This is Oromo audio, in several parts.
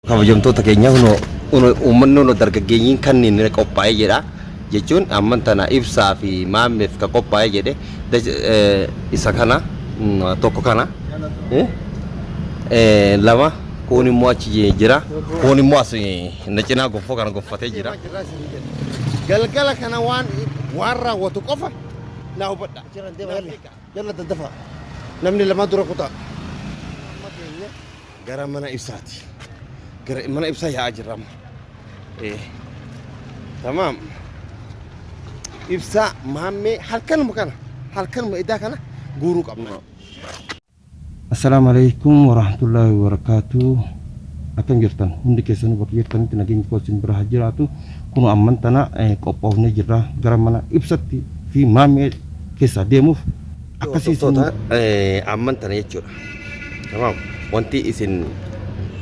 Kabajamtoota keenya kunoo kunoo uummanni kunoo dargaggeenyiin kanniin qophaa'ee jedha jechuun amman tana ibsaa fi maammeef ka qophaa'ee jedhe dach- eh, isa kana mm, tokko kana eh, eh, lama kuun immoo achi je- jira kuun immoo as eh, na cinaa gonfoo kana gonfatee jira. Galgala kana waan waan raawwatu qofa naa hubadha. Jala daddafa. Namni lama dura kutaa. Gara mana ibsaati. Gara mana ibsaa yaa'aa jirra amma. Eh, Tamaam. Ibsaa maammee halkanuma kana halkanuma idaa kana guuruu qabna. Assalaamu alaikum warahmatullaahi wabarakaatu. Akkam jirtan hundi keessanuu bakka jirtanitti nageenyi koo isin bira haa jiraatu. Kun amman tana eh, qophoofnee jirra gara mana ibsatti fi maammee keessaa deemuuf akkasii isin Hordoftoota amman tana jechuudha. Tamam. Wanti isin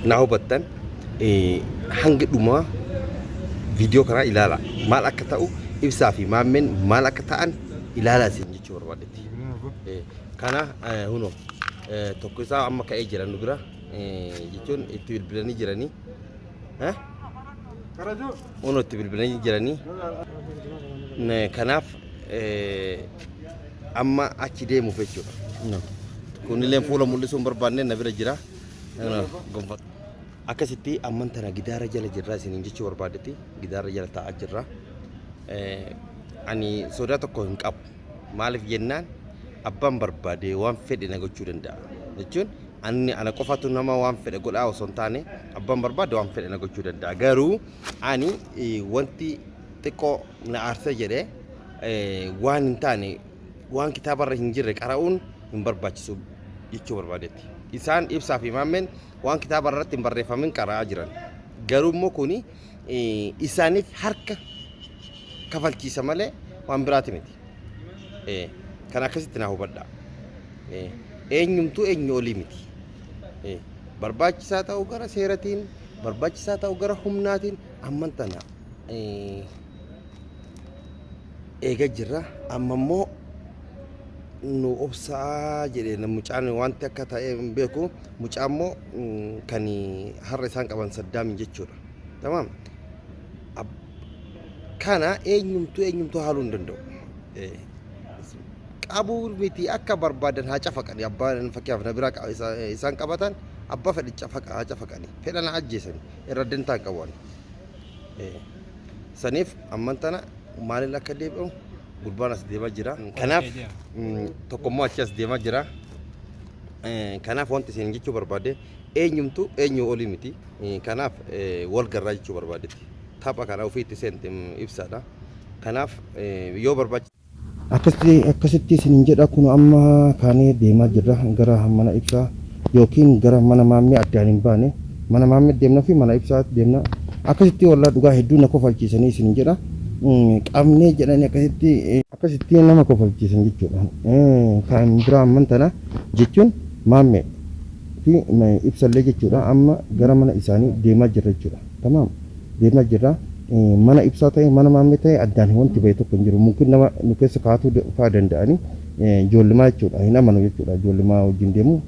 na hubattan eh, hanga dhumaa viidiyoo kanaa ilaala. Maal akka ta'u ibsaa fi maammeen maal akka ta'an ilaala isin jechuu barbaadetti. Eh, Kana eh, huno eh, tokko isaa amma ka'ee jira nu bira eh, jechuun itti bilbilanii jiranii. Eh? Onootti bilbilanii jiranii. Ne- Kanaaf eh, amma achi deemuuf jechuudha. No. Kunillee fuula mul'isuun barbaanne na bira jira. No, gonfadhu. Akkasitti amman tana gidaara jala jirra isiniin jechuu barbaadetti gidaara jala taa'aa jirra. Eh, Ani sodaa tokko hin qabu. Maaliif jennaan abbaan barbaade waan fedhe na gochuu danda'a. Jechuun anni ana qofatu nama waan fedhe godhaa osoo hin taane abbaan barbaade waan fedhe na gochuu danda'a. Garuu ani eh, wanti xiqqoo na aarsa jedhee eh, waan hin taane waan kitaabarra hin jirre qara'uun hin barbaachisu jechuu barbaadetti. Isaan ibsaa fi maammeen waan kitaaba irratti hin barreeffamin qara'aa jiran. Garuu immoo kuni isaaniif harka kafalchiisa malee waan biraati miti. Kan akkasitti naa hubadha. Eenyumtuu eenyu olii miti. Barbaachisaa ta'u gara seeratiin, barbaachisaa ta'u gara humnaatiin amman tana eega jirra. Amma immoo nu obsaa jedhee mucaan wanti akka ta'e hin beeku. Mucaan immoo Kan har'a isaan qaban Saddaamiin jechuudha. Tamaam. Kana eenyumtuu eenyumtuu haaluu hin danda'u. Qabuu miti akka barbaadan haa cafaqani. Abbaan fakkeenyaaf na biraa isaan qabatan abbaa fedhe cafaqa haa cafaqani. Fedha na ajjeesani. Irra dantaa hin qabu ani. Saniif amman tana maaliin akka deebi'u gurbaan as deemaa jira. Kanaaf tokkommoo achi as deemaa jira. Kanaaf wanti isin jechuu barbaade eenyumtu eenyu olii miti. Kanaaf wal garraa jechuu barbaadetti. Tapha kana ofii itti seente ibsaadha. Kanaaf yoo barbaachi Akkasitti akkasitti isinin jedha kun amma kaanee deemaa jirra gara mana ibsaa yookiin gara mana maammee addaan hin baane mana maammee deemna fi mana ibsaa deemna akkasitti wallaa dhugaa hedduu na kofalchiisanii isinin jedha qabnee jedhanii akkasitti akkasitti nama kofalchiisan jechuudha. Kan biraa amman tana jechuun maammee fi ibsallee jechuudha. Amma gara mana isaanii deemaa jirra jechuudha. Tamaam deemaa jirra. Mana ibsaa ta'e mana maammee ta'e addaan wanti ba'e tokko hin jiru. Mungkin nama nu keessa kaatuu fa'aa danda'anii ijoollimaa jechuudha. Hin amanu jechuudha. Ijoollimaa wajjin deemu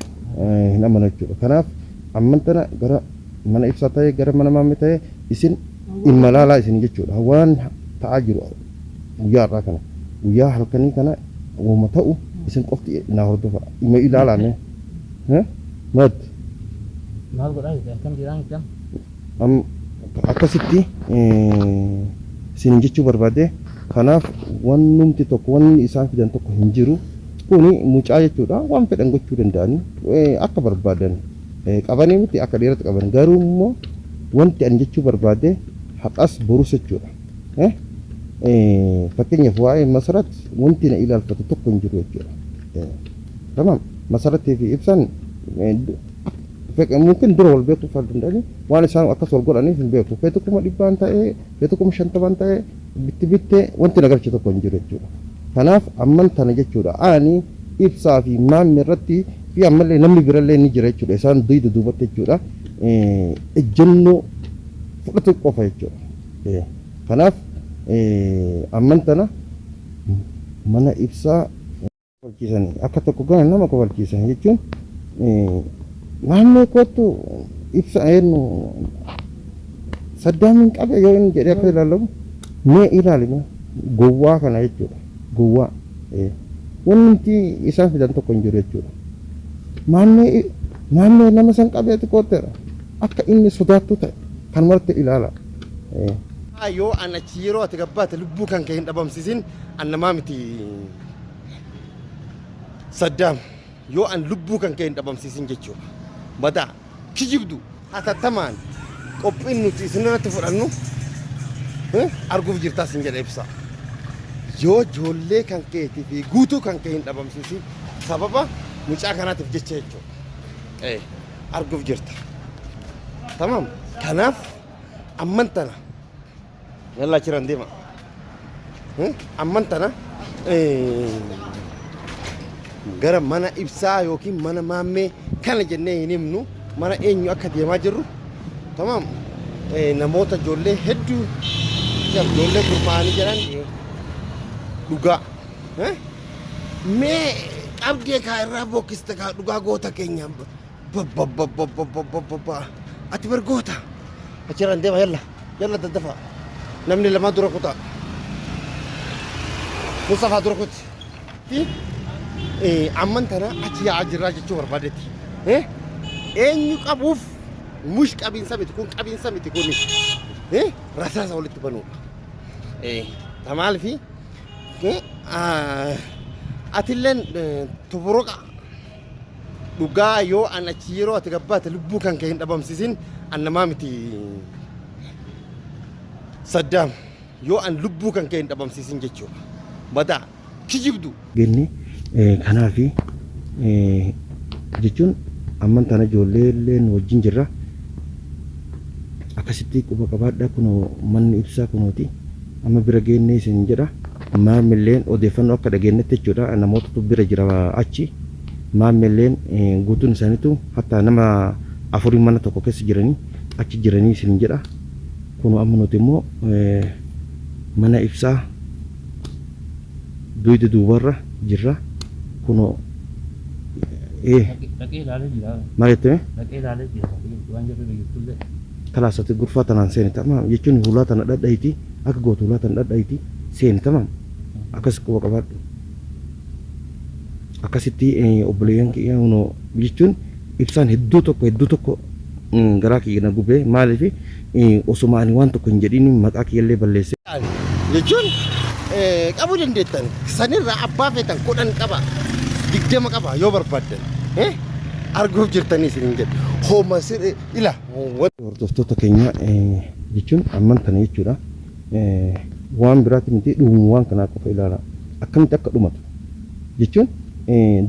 hin amanu jechuudha. Kanaaf amman tana gara mana ibsaa ta'e gara mana maammee ta'e isin dhimma laalaa isin jechuudha. Waan ta'aa jiru Guyyaa har'aa kana guyyaa halkanii kana woma ta'u isin qofti naa hordofa ima ilaalaa mee he mad Maal godhaa jirti halkan jiraa mucaan? am akkasitti isinin jechuu barbaade kanaaf wannumti tokko wanni isaan fidan tokko hin jiru kuni mucaa jechuudha waan fedhan gochuu danda'ani akka barbaadan qabanii miti akka dhiiratti qaban garuu immoo wanti ani jechuu barbaade haqas borus jechuudha. Fakkeenyaaf waa'ee masarat wanti na ilaalfatu tokko hin jiru jechuudha. Tamam masaratii fi ibsan mungkin dura wal beekuu fa'aa danda'anii waan isaan akkas wal godhaniif hin beeku. Feetu kuma dhibbaan ta'ee feetu kuma shantamaan ta'ee bitti bittee wanti na galche tokko hin jiru jechuudha. Kanaaf amman tana jechuudha. Ani ibsaa fi maammi irratti fi ammallee namni birallee ni jira jechuudha. Isaan duyda duubatti jechuudha. Ejjennoo fudhatu qofa jechuudha. Kanaaf amman tana mana ibsaa. kofalchiisan akka tokko gana nama kofalchiisan jechuun maammee koottu ibsa eenyu saddaamiin qabe yoo inni jedhee akka ilaalamu mee ilaali mee gowwaa kana jechuudha gowwaa wanti isaan fidan tokko hin jiru jechuudha maammee maammee nama san qabeetu kootteedha. Akka inni sodaattuu ta'e kan marte ilaalaa. e. a Yoo an achi yeroo ati gad baate lubbuu kan kee hin dhabamsiisin an namaa miti. Saddaam, Yoo an lubbuu kan kee hin dhabamsiisin jechuudha. Badaa, Kijibdu! Hatattamaan qophiin nuti isin irratti fudhannu e, arguuf jirtaa sin jedha ibsaa. Yoo ijoollee kan keetii fi guutuu kan kee hin dhabamsiisin sababa mucaa kanaatiif jecha jechuudha. e. arguf jirta tamam kanaf amman tana yalla chiran dema Hmm? amman tana eh, gara mana ibsaa yookiin mana maammee kana jennee hin himnu mana eenyu akka deemaa jirru tamam eh, namoota ijoollee hedduu ijoollee gurmaa'anii jiran dhugaa eh? Mee qabdee kaa irraa bokkiste kaa dhugaa goota keenya babbabbabbabbabbabbabba ati bar goota achirraan deema yalla yalla daddafa namni lamaa dura kutaa Mustafaa dura kuti amman tana achi yaa'aa jirraa jechuu barbaadetti eenyu qabuuf mush qabiinsa miti kun qabiinsa miti kun rasaasa walitti banuudha tamaal fi Atilleen toboroqa dhugaa yoo an achi yeroo ati gabbaate lubbuu kan kee hin dhabamsiisin an namaa miti saddaam yoo an lubbuu kan kee hin dhabamsiisin jechuudha madaa kijibdu Genne kanaaf jechuun amman tana ijoollee illee nu wajjin jirra. Akkasitti quba qabaadhaa kunoo manni ibsaa kunooti. Amma bira geennee isiniin jedha. Maamilleen odeeffannoo akka dhageennetti jechuudha namootatu bira jira achi. Maamilleen guutuun isaaniitu hattaa nama afurii mana tokko keessa jiranii achi jiranii isiniin jedha. Kunoo amma nuti immoo mana ibsaa duyda duubarra jirra. Kunoo ee. Dhaqee ilaalee jira. Maal jettee? Dhaqee ilaalee jira waan jedhu dhageessu illee. Kalaas ati gurfaa tanaan seeni tamaam jechuun hulaa tana dhadhayti akka gootu hulaa tana dhadhayti seeni tamaam akkasi quba qabaadhu akkasitti obboleeyyan kiyya hunoo jechuun ibsaan hedduu tokko hedduu tokko garaa kiyya na gubee maaliif osuma ani waan tokko hin jedhiin maqaa kiyyallee balleessee jechuun qabuu dandeettan sanirraa abbaa feetan kudhan qaba digdama qaba yoo barbaaddan arguuf jirtanii isin hin jedhu hooma ila Warri hordoftoota keenya jechuun amman kana jechuudha. Waan biraatti miti dhumuma waan kanaa qofa ilaala. Akkamitti akka dhumatu jechuun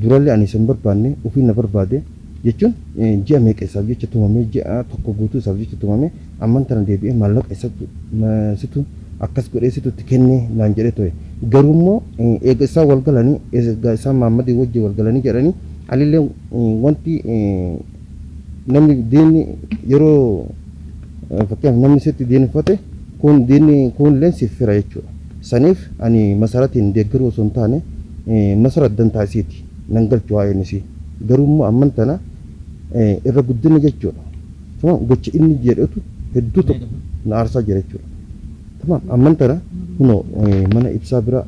durallee ani isa hin barbaanne ofiin na barbaade jechuun ji'a meeqa isaaf jecha tumamee ji'a tokko guutuu isaaf jecha tumamee amman tana deebi'ee maallaqa isatu situ akkas godhee situ itti kennee naan jedhee ture. Garuu immoo eega isaan wal galanii egaa isaan Maammadii wajji wal galanii jedhanii anillee wanti Namni diinni yeroo fakkeenyaaf namni sitti diin uffate kun diinni kuunilleen siif fira jechuudha. Saniif ani masaratiin deeggaruu osoo hin taane masarat dantaa isiiti nan galchu waa'een isii. Garuu immoo amman tana irra guddinni jechuudha. Tamaam gocha inni jedhetu hedduu tokko na aarsaa jira jechuudha. Tamaam amman tana kunoo mana ibsaa bira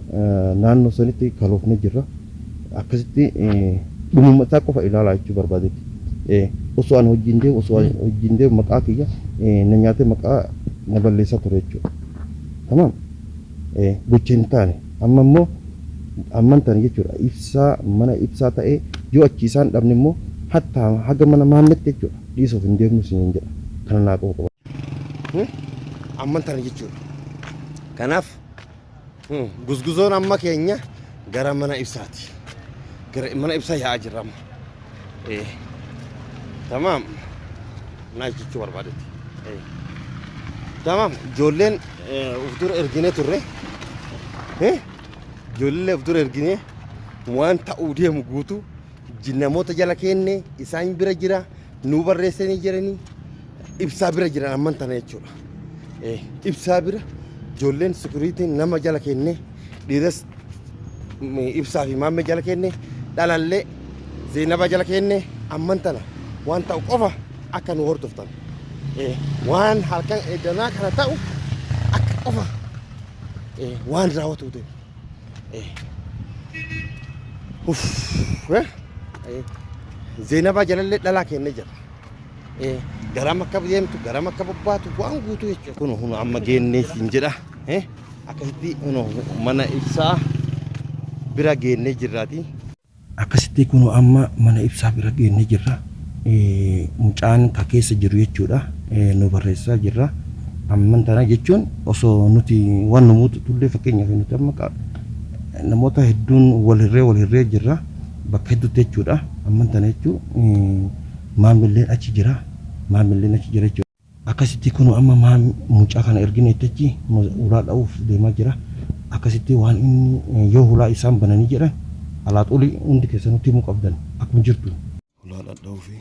naannoo sanitti kaloofne jirra. Akkasitti dhumuma isaa qofa ilaalaa jechuu barbaadetti. Osoo ani hojiin deemu osoo ani hojiin deemu maqaa kiyya na nyaatee maqaa na balleessaa ture jechuudha. Tamaam gocha hin taane amma immoo amman tana jechuudha ibsaa mana ibsaa ta'ee yoo achi isaan dhabne immoo hatta haga mana maammetti jechuudha dhiisuuf hin deemnu isiniin jedha kana naa qabu qaba. Amman tana jechuudha. Kanaaf Hmm, Gusgusoon amma keenya gara mana ibsaati. Gara mana ibsaa yaa'aa jirra amma. Eh, Tamaam. Naa jechuu barbaadetti. Eh, Tamaam. Ijoolleen eh, of dura erginee turre. Eh, Ijoollee of dura erginee waan ta'uu deemu guutuu namoota jala keenne isaan bira jira nuu barreessanii jiranii ibsaa bira jiran amman tana jechuudha. Eh, Ibsaa bira ijoolleen sikuriitiin nama jala keenne dhiiras mm, ibsaa fi maammee jala keenne dhalallee zeenaba jala keenne amman tana waan ta'u qofa akka nu hordoftan. Eh, Waan halkan eeganaa kana ta'u akka qofa eh, waan raawwatu ta'e. Zeenabaa jalallee dhalaa keenya jira. Garam akka deemtu garam akka bobbaatu waan guutuu jechuudha. Kun hunu amma geennee siin jedha. Akkasitti mana ibsaa bira geennee jirraati. Akkasitti kunoo amma mana ibsaa bira geenne jirra. Mucaan ka keessa jiru jechuudha. Nu barreessaa jirra. Amman tana jechuun osoo nuti waan nu muuxatullee fakkeenyaaf nuti amma qa- namoota hedduun wal hirree wal hirree jirra. Bakka hedduutti jechuudha. Amman tana jechuun maamilleen achi jira. Maamilleen achi jira jechuudha. Akkasitti kunoo amma maam mucaa kana ergina itti achi kunoo hulaa dha'uuf deemaa jira. Akkasitti waan inni yoo hulaa isaan bananii jedhan alaa xuli hundi keessanuu itti himuu qabdan akkuma jirtu. Hulaa dhadha'uu fi